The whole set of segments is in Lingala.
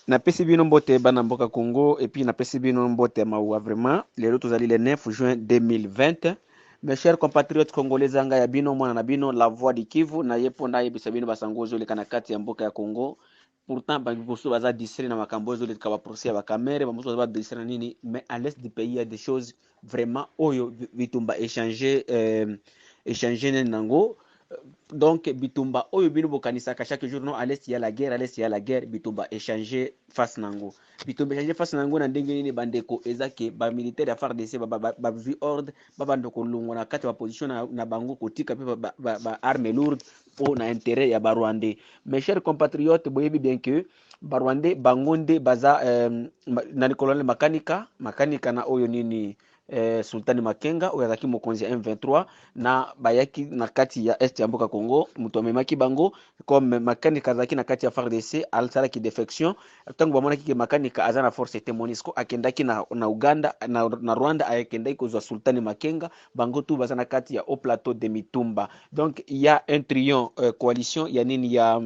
Napesi bino mbote bana mboka Congo et puis napesi bino mbote ya mawa vraiment. Lelo tozali le 9 juin 2020. Mes chers compatriotes congolais zanga ya bino mwana na bino la voix du Kivu na ye mpo nayebisa bino basango oyo ezoleka na kati ya mboka ya Congo. Pourtant bamosusu baza distrait na makambo oyo ezoleka ba procès ya ba Kamerhe, bamosusu baza ba distrait na nini mais à l'est du pays il y a des choses vraiment oyo bitumba échange euh, échange nene nango euh, donc bitumba oyo bino bokanisaka chaque jour non alesi ya la guerre alesi ya la guerre bitumba échange face nango bitumba échange face nango na ndenge nini bandeko eza ke bamilitaire ya fardc bazwi ordre babanda kolongwa na kati ya baposition na, na bango kotika mpe baarme ba, ba, ba lourde mpo na intérêt ya barwandais mes chers compatriotes boyebi bien que Barwande bango nde baza eh, nani colonel makanika makanika na oyo nini eh, sultani makenga oyo azalaki mokonzi ya m23 na bayaki na kati ya est ya mboka congo moto amemaki bango comme makanika azalaki na kati ya fardc asalaki defection ntango bamonaki ke makanika aza na force te monisco akendaki na, na uganda na, na rwanda akendaki kozwa sultani makenga bango tu baza na kati ya haut plateau de mitumba donc ya un trion eh, coalition ya nini ya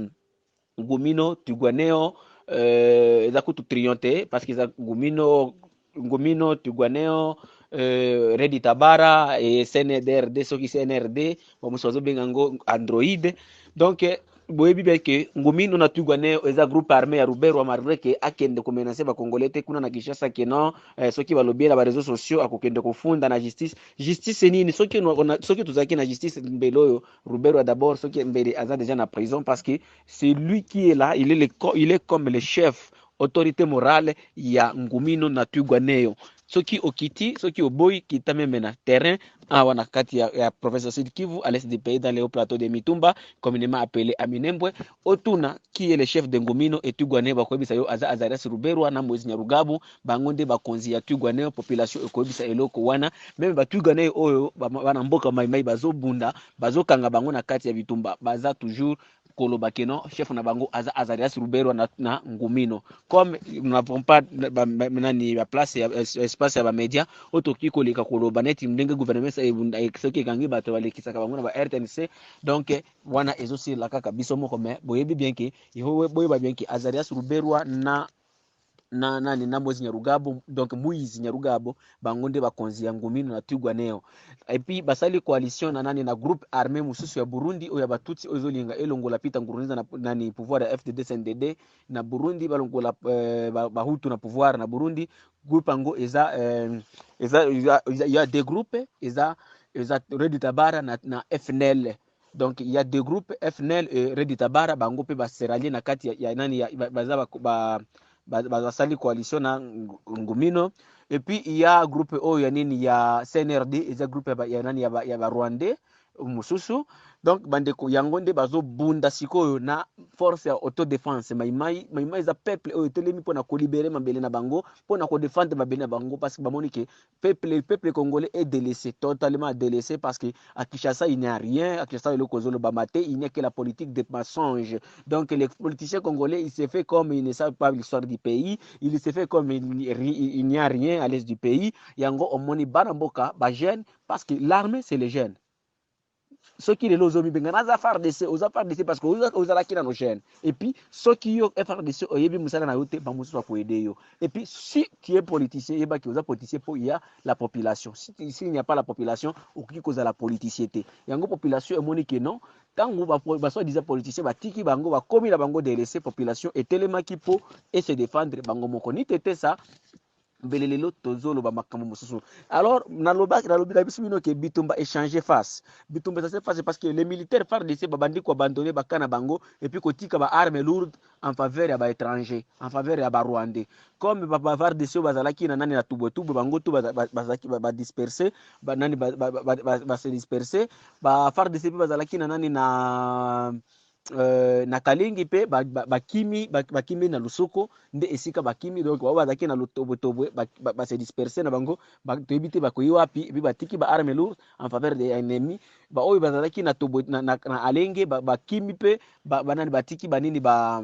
ngumino tuguaneo euh, eza kutu trion te parce que eza ngumino ngumino tuguaneo euh, redi tabara e cndrd soki cnrd bamosusu bazobenga yango android donc boyebi bien ke ngumino na tuguaneo eza groupe armé ya ruberwa malgré ke akende komenase bacongolais te kuna na kinshasa ke non eh, soki balobi ye na bareseau sociaux akokende kofunda na justice justice nini soki, ona- ona- soki tozalaki na justice mbele oyo Ruberwa d'abord soki mbele aza dejà na prison parce que c'est lui qui est là il est, le, il est comme le chef autorité morale ya ngumino na twigwaneyo soki okiti soki oboyi kita meme na terrain awa na kati ya, ya province ya sud kivu à l'est du pays dans le haut plateau de mitumba communément appelé aminembwe Otuna qui est le chef de Ngomino et Twigwaneho bakoyebisa yo aza Azarias Ruberwa na Moise Nyarugabu bango nde bakonzi ya Twigwaneho population ekoyebisa eloko wana meme ba Twigwaneho oyo bana mboka Mai Mai bazo bunda bazo kanga bango na kati ya bitumba baza toujours koloba que non chef na bango aza Azarias Ruberwa na, na Ngomino comme nous n'avons pas ba, ba, nani ba place ya espace ya ba media oyo tokoki koleka koloba neti ndenge gouvernement soki ekangi bato balekisaka bango na ba RTNC donc wana ezo sila kaka biso moko mais boyebi bien ke yehowa boyeba bien ke azarias ruberwa na na nani na mozi nyarugabo donc moise nyarugabo bango nde bakonzi ya ngumino na twigwaneo epuis basali coalition na nani na groupe armé mosusu ya burundi oyo ya batutsi oyo ezolinga elongola peter ngurunziza na nani pouvoir ya fdd cndd na burundi balongola euh, bahutu na pouvoir na burundi groupe yango eza euh, eza il y a deux groupes eza eza Redi Tabara na, na FNL donc il y a deux groupes FNL et Redi Tabara bango pe ba seralier na kati ya, ya nani ya, baza ba, ba, ba, ba, basali coalition na Ngumino et puis il y a groupe oyo ya nini ya CNRD eza groupe ya, ya nani ya, ya ba Rwandais mosusu donc bandeko yango nde bazobunda sikoyo na force ya autodefense maimai maimai eza peuple oyo etelemi mpona kolibere mabele na bango mpona kodefendre mabele na bango parce que bamoni ke peuple peuple congolais est délaissé totalement délaissé parce que à Kinshasa il n'y a rien à Kinshasa eloko ezolobama te il n'y a que la politique de mensonge donc les politiciens congolais il se fait comme il ne savent pas l'histoire du pays il se fait comme il, il n'y a rien à l'est du pays yango omoni bana mboka ba jeune Parce que l'armee c'est les jeunes. soki lelo ozo mibenga naza FARDC oza FARDC parce que ozalaki nano jeune et puis soki yo FARDC oyebi musala na yo te ba mususu ko aider yo et puis si tu es politicien yeba ki oza politicien po ya la population si tu si il n'y a pas la population okoki kozala politicien te yango population emoni que non tango ba ba soit disant politicien batiki bango bakomi na bango délaissé population etelemaki po et se défendre bango moko ni tetesa mbele lelo tozoloba makambo mosusu alors naloba nalobi na biso bino ke bitumba echange face bitumba echange face parce que les militaires fardc babandi koabandonne baka na bango epuis kotika ba arme lourde en faveur ya baétranger en faveur ya barwandais comme bafardc oyo bazalaki na nani na tubwetubwe bango to bazalaki badisperse banani base disperse bafardc mpe bazalaki na nani na Euh, na kalengi mpe bakimi ba, ba bakimi na lusoko nde esika bakimi donc bao bazalaki na lotobwetobwe base ba, ba disperse na bango toyebi te bakoyi wapi epuis batiki ba arme lourd en faveur de ennemi baoyo bazalaki na, tobwe, na, na, na alenge bakimi ba mpe banani ba batiki banini ba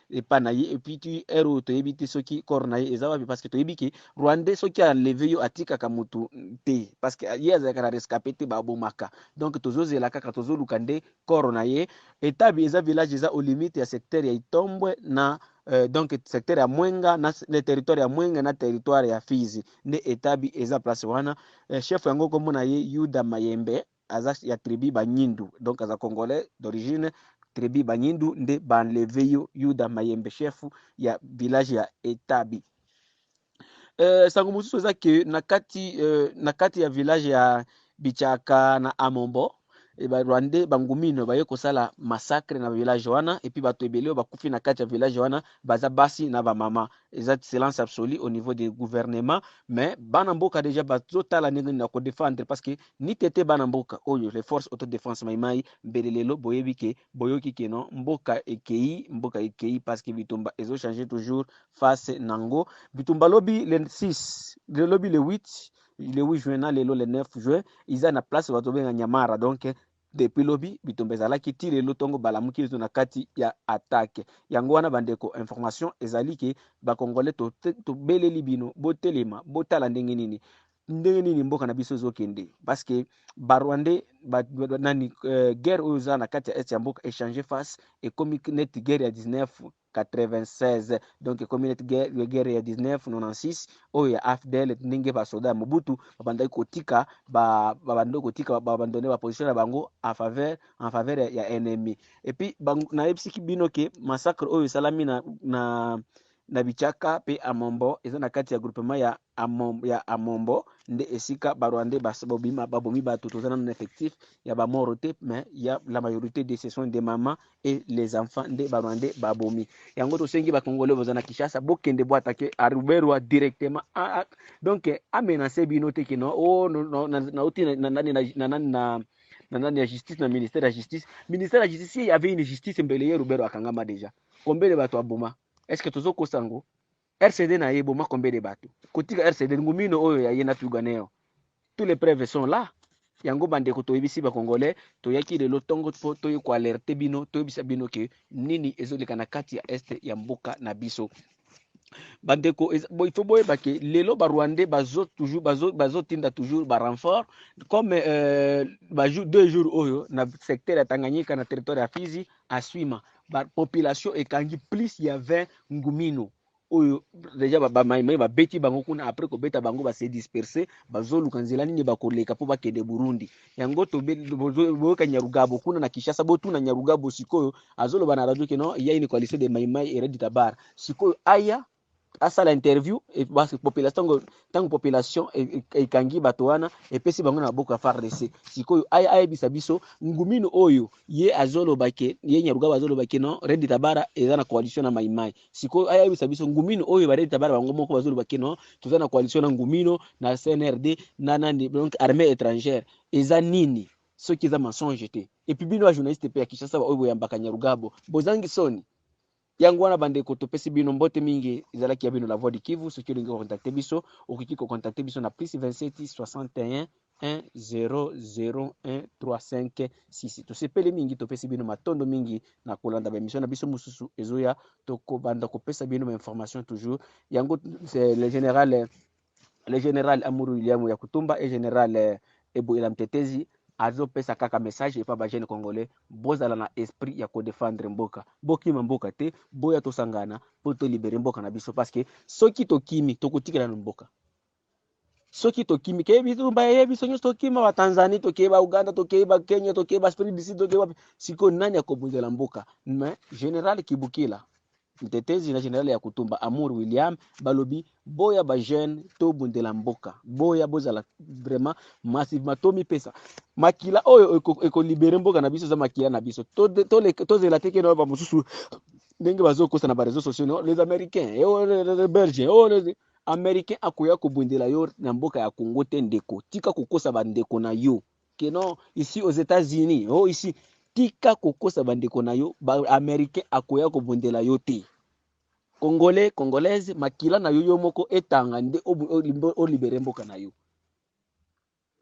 epa na ye epuis tu heure oyo toyebi te soki corps na ye eza wapi parce que toyebi ke rwandais soki aleve yo atikaka mutu te parce que ye azalaka na rescape te babomaka donc tozozela kaka tozoluka nde corps na ye etabi eza village eza au limite ya secteur ya itombwe na Euh, donc secteur ya mwenga na le territoire ya mwenga na territoire ya fizi nde etabi eza place wana euh, chef yango kombo na ye yuda mayembe aza ya tribu banyindu donc aza congolais d'origine tribu banyindu nde banleve yo yuda mayembe chef ya village ya etabi euh, sango mosusu eza ke na kati euh, na kati ya village ya bichaka na amombo e ba rwandais bangumino baye kosala massacre na village wana epuis bato ebele oyo bakufi na kati ya village wana baza basi na bamama eza silence absolu au niveau de gouvernement mais bana mboka deja bazotala ndenge nini na kodefendre parce que Nite te bana mboka oyo les forces auto defense mayi mayi mbele lelo boyebi ke boyoki ke non mboka ekeyi mboka ekeyi parce que bitumba ezo changer toujours face nango bitumba lobi le 6 le lobi le 8 le 8 juin na lelo le 9 juin iza na place bazo benga nyamara donc Depuis lobi bitumba ezalaki ti lelo tongo balamuki biso na kati ya attaque. Yango wana bandeko information ezali ke ba congolais to tobeleli bino botelema botala ndenge nini ndenge nini mboka na biso ezokende parce que ba rwandais ba, ba, nani euh, guerre oyo eza na kati ya est ya mboka echange face ekomi neti guerre ya 19 96 donc ekomi neti guerre ya 1996 oyo ya afdl ndenge basoda ya mobutu babandaki kotika babandaki kotika babandone baposition na bango en faveur en faveur ya, ya ennemi epuis nayebisiki bino ke massacre oyo esalami na, na na bichaka mpe amombo eza na kati ya groupement ya amombo, ya amombo nde esika barwandais babima babomi bato toza nano na effectif ya bamoro te mais ya la majorité de ce sont des mamans et les enfants nde ba rwandais ba bomi yango tosengi ba congolais boza na Kinshasa bokende bo attaquer à Ruberwa directement a, a, donc a menacer bino te que non oh no, no, na na oti na nani na na nani na na nani ya justice na ministère ya justice ministère ya justice il y avait une justice mbele ye Ruberwa akangama déjà combien de bato aboma est-ce que tozo kosango RCD na ye boma combien de bato kotika RCD ngumino oyo ya ye na tuganeo tous les preuves sont là yango bandeko toyebisi bacongolais toyaki lelo ntongo mpo toye koalerte bino toyebisa bino ke nini ezoleka na kati ya este ya mboka na biso bandeko ifo boyeba ke lelo barwandais bazo toujours bazo bazotinda toujours barenfort comme euh, bajour deux jours oyo na secteur ya tanganyika na territoire ya fizi Aswima ba population ekangi plus ya 20 ngumino oyo deja ba mai mai babeti bango kuna après kobeta bango ba se disperser bazoluka nzela nini bakoleka mpo bakende Burundi yango boyoka Nyarugabo kuna na Kinshasa botuna Nyarugabo sikoyo azoloba na radio keno ya une coalition de mai mai et Red Tabara sikoyo aya asala interview population tango tango population ekangi bato wana epesi bango na maboko ya FARDC sikoyo aya ayebisa biso ngumino oyo ye azoloba ke ye Nyarugaba azoloba ke non Red Tabara eza na coalition na Maimai sikoyo aya ayebisa biso ngumino oyo ba Red Tabara bango moko bazoloba ke non toza na coalition na ngumino na CNRD na nani donc armée étrangère eza nini soki eza mensonge te et puis bino ba journaliste pe ya Kinshasa ba oyo boyambaka Nyarugabo bozangi soni Yango wana bandeko topesi bino mbote mingi ezalaki ya bino la voix du Kivu soki olingi ko contacter biso okoki ko contacter biso na plus 27 61 1001356 tosepeli mingi topesi bino matondo mingi na kolanda baemission na biso mosusu ezoya tokobanda kopesa bino bainformation toujours yango le général le general Amuru William ya Kutumba et general eh, Ebuela Mtetezi azopesa kaka message epa ba jeune congolais bozala na esprit ya kodefendre mboka bokima mboka te boya tosangana mpo tolibere mboka na biso parce que soki tokimi tokotikela na mboka soki tokimi keye biso baye biso nyonso tokima ba Tanzanie tokeye ba Uganda tokeye ba Kenya tokeye ba Afrique du Sud tokeye wapi sikoyo nani akobundela mboka mais general Kibukila Mtetezi na general ya kutumba Amour William balobi boya ba jeune to bundela mboka boya bozala vraiment massivement to mipesa makila oyo eko, eko libere mboka na biso za makila na biso to to, to, to zela teke na ba mususu ndenge bazokosa na ba réseaux sociaux no les américains et eh, oh, les, les belges et eh, oh, les américains akoya kobundela yo na mboka ya Congo te ndeko tika kokosa ba ndeko na yo que non ici aux etats unis oh ici tika kokosa bandeko na yo ba américain akoya kobundela yo te congolais congolaise makila na yo yo moko etanga nde olibere mboka na yo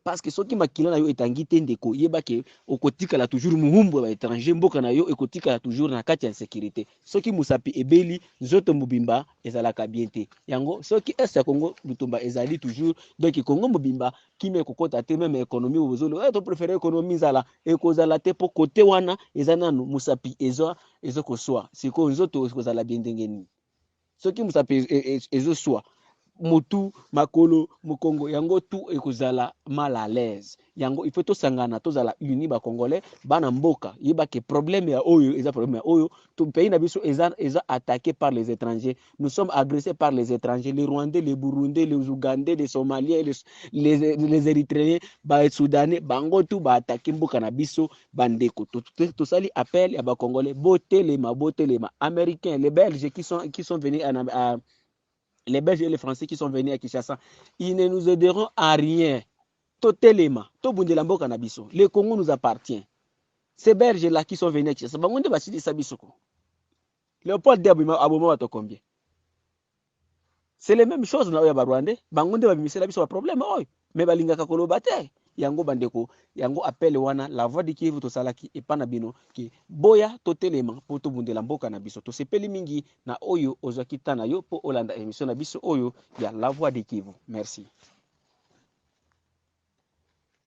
parce que soki makila na yo etangi te ndeko yeba ke okotikala toujours muhumbu ya étranger mboka na yo ekotikala toujours na kati ya insécurité soki musapi ebeli nzoto mobimba ezalaka bien te yango soki est ya congo lutumba ezali toujours donc congo mobimba kimia ekokota te meme economie bozo loba eh, to prefere economie nzala ekozala te po kote wana eza nanu musapi ezo ezo koswa sikoyo nzoto ekozala bien ndenge nini soki musapi e, e, e, ezoswa motu makolo mokongo yango tu ekozala mal à l'aise yango il faut tosangana tozala uni ba congolais bana mboka yeba ke problème ya oyo eza problème ya oyo to pays na biso eza eza attaqué par les étrangers nous sommes agressés par les étrangers, les Rwandais, les Burundais, les Ougandais, les Somaliens, les, les, les Érythréens, ba Soudanais, bango tout ba attaquer mboka na biso bandeko. Tosali appel ya ba Congolais botelema botelema américains, les Belges qui sont qui sont venus à, à les Belges et les Français qui sont venus à Kinshasa, ils ne nous aideront à rien. Totelema, tobundela mboka na biso. Le Congo nous appartient. Ces Belges là qui sont venus à Kinshasa, bango nde basilisa biso ko. Leopold de abima aboma bato combien? C'est le même chose na oyo ya ba Rwandais, bango nde babimisela biso ba problème oyo, mais balingaka koloba te. Yango bandeko, yango appel wana la voix du Kivu tosalaki epa na bino ke boya totelema mpo tobundela mboka na biso. Tosepeli mingi na oyo ozwaki temps na yo mpo olanda emission na biso oyo ya la voix du Kivu. Merci.